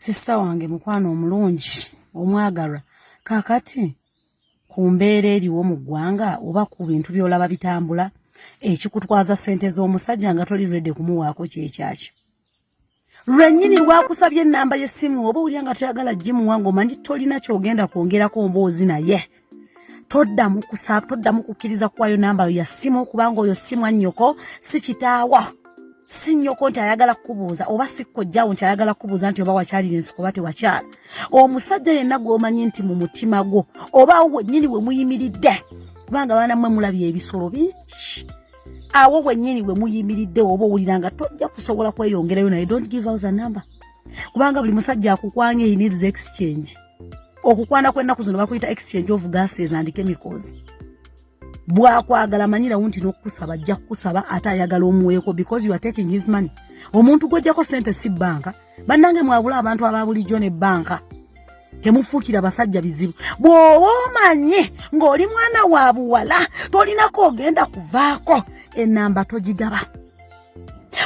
sisita wange mukwano omulungi omwagalwa kakati ku mbeera eriwo mu ggwanga oba ku bintu by'olaba bitambula ekikutwaza ssente z'omusajja nga toli redi kumuwaako kyekyakyo lwenyini lwakusabye enamba yesimu oba olya nga toyagala jimuwa ngaomanyi tolina kyogenda kwongerako mboozi naye toddamu kusaba toddamu kukkiriza kuwayo nambayo ya simu okubanga oyo simu annyoko si kitaawa si nnyoko nti ayagala kukubuuza oba sikkojjawo nti ayagala kukubuuza nti oba wakyalira ensiko oba tewakyala omusajja yenna gwomanyi nti mu mutima gwo oba awo wennyini we muyimiridde kubanga baana mmwe mulabye ebisolo bingi awo wenyini we muyimiridde oba owulira nga tojja kusobola kweyongerayo naye don't give out the number kubanga buli musajja akukwanga he needs exchange okukwana kwennaku zino bakuyita exchange of gases and chemicals bwakwagala manyirawo nti nokukusaba ajja kukusaba ate ayagala omuweeko because you are taking his money omuntu gwojjako sente si banka bannange mwabula abantu aba bulijjo ne bbanka temufuukira basajja bizibu bw'oba omanye ng'oli mwana wa buwala tolinako ogenda kuvaako enamba togigaba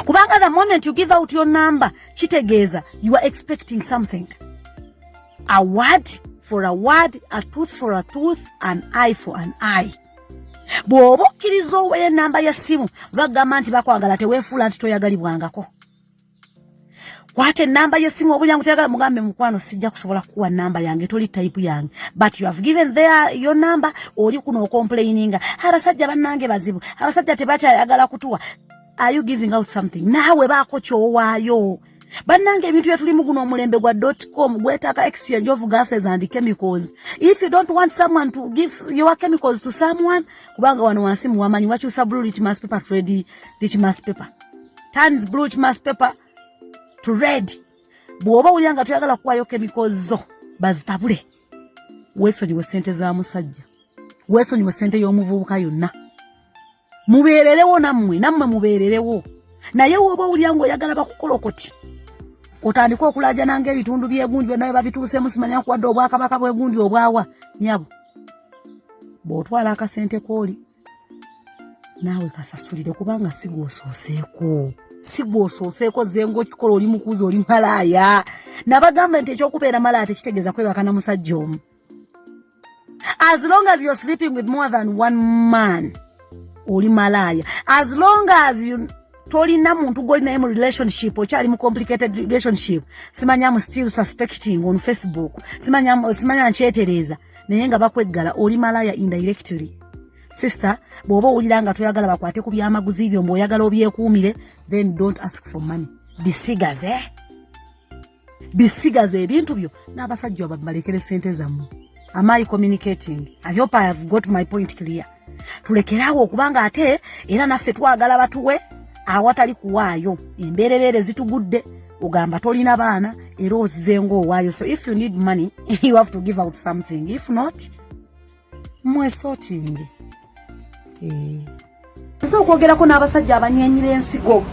kubanga the moment you give out your number kitegeeza you are expecting something a word for a word a tooth for a tooth an eye for an eye bw'oba okkiriza oweyo enamba y'essimu bagamba nti bakwagala teweefuula nti toyagalibwangako kwata enamba yesimu obulyangu teyagala mugambe mukwano sijja kusobola kukuwa namba yange toli type yange but you have given their your number oli kuno okomplaininga abasajja bannange bazibu abasajja tebakyayagala kutuwa are you giving out something naawe baako kyowaayo bannange ebintu byetulimu guno omulembe gwa dotcom gwetaka exchange of gases and chemicals if you don't want someone to give your chemicals to someone kubanga wano wansi muwamanyi wakyusa blue litmus paper trade litmus paper turns blue mass paper to red bwoba wulira nga toyagala kuwayo chemicals zo bazitabule wesonyiwe sente za musajja wesonyiwe sente y'omuvubuka yonna mubeererewo nammwe nammwe mubeererewo naye woba owulira ngaoyagala bakukolokoti otandika okulajana nga ebitundu byegundi byonna bebabituusemu simanya kuwadde obwakabaka bwegundi obwawa nyabo bwotwala akasente kooli naawe kasasulire kubanga si gwosooseeko si gwosooseeko zenga okikola oli mukuuzi oli malaaya nabagamba nti ekyokubeera malaaya tekitegeeza kwebaka na musajja omu as long as you're sleeping with more than one man oli malaaya as long as you tolina muntu goli naye mu relationship okyali mu complicated relationship simanya mu still suspecting on facebook simanya simanya nkyetereeza naye nga bakweggala oli malaya indirectly sister bw'oba owulira nga toyagala bakwate ku byamaguzi byo mbaoyagala obyekuumire then don't ask for money bisigaze eh? bisigaze ebintu byo n'abasajja babalekere sente zammwe am i communicating i hope i have got my point clear tulekeraawo okubanga ate era naffe twagala batuwe awatali kuwaayo embeerebeere zitugudde ogamba tolina baana era ozize ngaowaayo so if you need money you have to give out something if not mwesotinge eh. nze okwogerako n'abasajja abanyenyira ensigo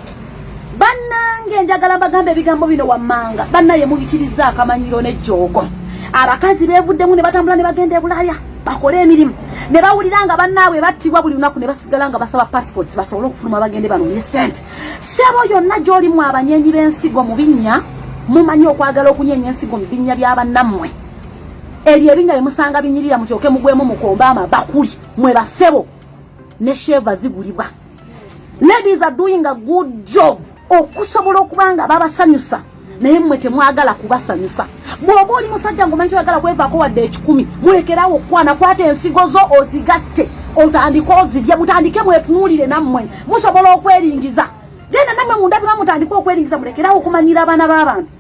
bannange njagala mbagamba ebigambo bino wammanga bannaye mubitiriza akamanyiro n'ejjoogo abakazi beevuddemu ne batambula ne bagenda e bulaaya bakole emirimu ne bawulira nga bannaabwe battibwa buli lunaku ne basigala nga basaba passports basobole okufuluma bagende banoonye ssente sebo yonna gy'oli mu abanyenyi b'ensigo mu binnya mumanyi okwagala okunyenya ensigo mu binnya bya bannammwe ebyo ebinnya bye musanga binyirira mukyoke mugwemu mukombe amabakuli mwe basebo ne sheeva zigulibwa ladies are doing a good job okusobola okuba nga babasanyusa naye mmwe temwagala kubasanyusa bw'oba oli musajja ngomanyi toyagala kwevaako wadde ekikumi mulekerawo okukwana kwata ensigo zo ozigatte otandike ozirye mutandike mwetunuulire nammwe musobola okweringiza genda nammwe mundabirwa mutandike okweringiza mulekerawo okumanyira abaana b'abantu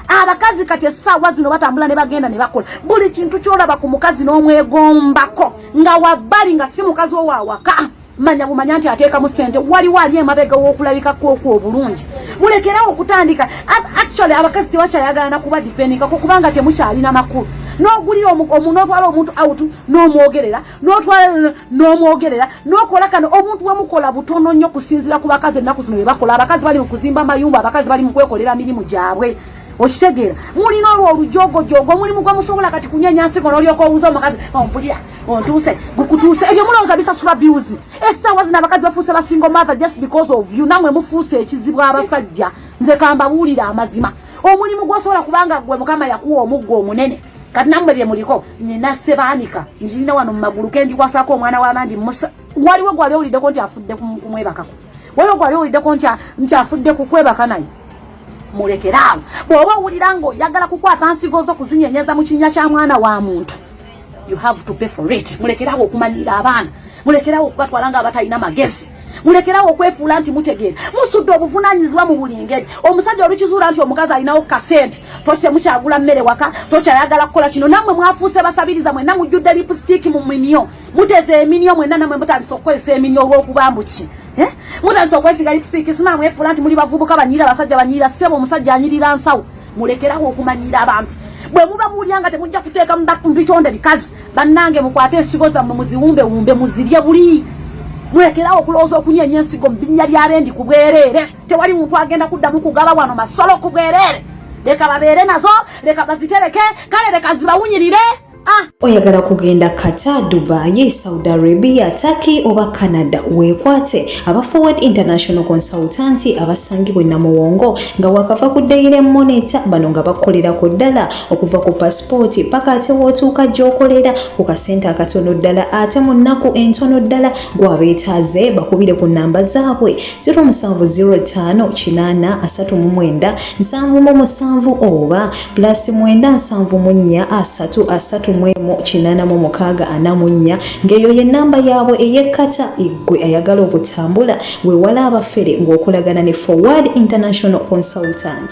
abakazi kati essaawa zino batambula ne bagenda ne bakola buli kintu kyolaba ku mukazi n'omwegombako nga wabbali nga si mukazi owaawaka manya bumanya nti ateekamu sente waliwo ali emabega w'okulabika kwokwo obulungi mulekerawo okutandika actually abakazi tebakyayagala nakuba dipendingako kubanga temukyalina makulu n'ogulira omu n'otwala omuntu out n'omwogerera n'otwala n'omwogerera n'okola kano omuntu wemukola butono nnyo kusinzira ku bakazi ennaku zino bebakola abakazi bali mu kuzimba amayumba abakazi bali mu kwekolera mirimu gyabwe okitegeera mulina olwo olujogojogo omulimu gwe musobola kati kunyanya nsigo n'olyoka owuza omukazi ompulira oh, ontuuse gukutuuse ebyo mulowooza bisasula biuzi essaawa zino abakazi bafuuse basingo mother just because of you namwe mufuuse ekizibu abasajja nze kambabuulira amazima omulimu gwosobola kubanga gwe mukama yakuwa omuggo omunene kati namwe bye muliko nina sebaanika njirina wano mu magulu kendikwasako omwana w'abandi musa waliwo gwali owuliddeko nti afudde kumwebakako waliwo gwali owuliddeko nti afudde kukwebaka naye mulekeraawo bw'oba owulira ng'oyagala kukwata nsigo zo kuzinyenyeza mu kinnya kya mwana wa muntu You have to pay for it. Mulekerawo okumanyira abaana. Mulekerawo okubatwala nga abatalina magezi. Mulekerawo okwefuula nti mutegeera. Musudde obuvunaanyizibwa mu buli ngeri. Omusajja olukizuula nti omukazi alinawo kasente. Toki temukyagula mmere waka. Toki ayagala kukola kino. Nammwe mwafuuse basabiriza mwenna mujjudde lipusitiiki mu minyo. Muteze eminyo mwenna nammwe mutandise okukozesa eminyo olw'okuba mbu ki. Eh? Mutandise okwesiga lipusitiiki. Sinamwefuula nti muli bavubuka banyirira basajja banyirira ssebo omusajja anyirira nsawo. mulekeraho okumanyiira abantu bwe muba muwulira nga temujja kuteeka mu bitonde bikazi bannange mukwate ensigo zammwe muziwumbewumbe muzirye buli mulekeraho okulowooza okunyeenya ensigo mu binnya bya rendi ku bwereere tewali muntu agenda kuddamu kugaba wano masolo ku bwereere leka babeere nazo leka bazitereke kale leka zibawunyirire Ah, oyagala kugenda Qatar, Dubai, Saudi Arabia, Turkey oba Canada weekwate aba Forward International Consultant abasangibwa e Namuwongo nga wakava ku Daily Monitor bano nga bakolera ku ddala okuva ku pasipooti paka ate wootuuka gy'okolera ku kasente akatono ddala ate mu nnaku entono ddala gwabeetaaze bakubire ku nnamba zaabwe 0705 839 77 oba plus mwenda nsanvu mu nnya asatu asatu mu emu kinaana mu mukaaga ana mu nnya ng'eyo ye nnamba yaabwe eyekkata eggwe ayagala okutambula weewala abafere ng'okolagana ne forward international consultant